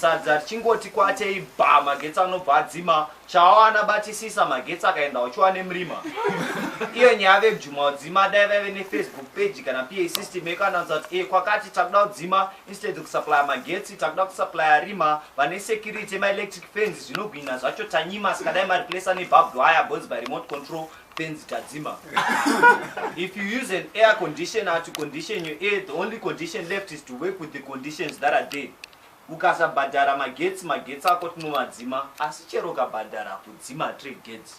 sadza richingoti kwatei bha magetsi anobva adzima chawana batisisa magetsi akaenda uchiwa nemurima iyo nyaya vekujuma udzima dai vaive nefacebook page kana pa system yekanaudza kuti e kwakati takuda kudzima instead kusuplya magetsi takuda kusuplya rima vane security maelectric fans zvinogwina zvacho tanyima sikadai mareplesa nebarbed wire bozi by remote control Benz Tadzima. if you use an air conditioner to condition your air, the only condition left is to work with the conditions that are there. ukasabhadhara magetsi magetsi ako tinomadzima asi chero ukabhadhara kudzima tregets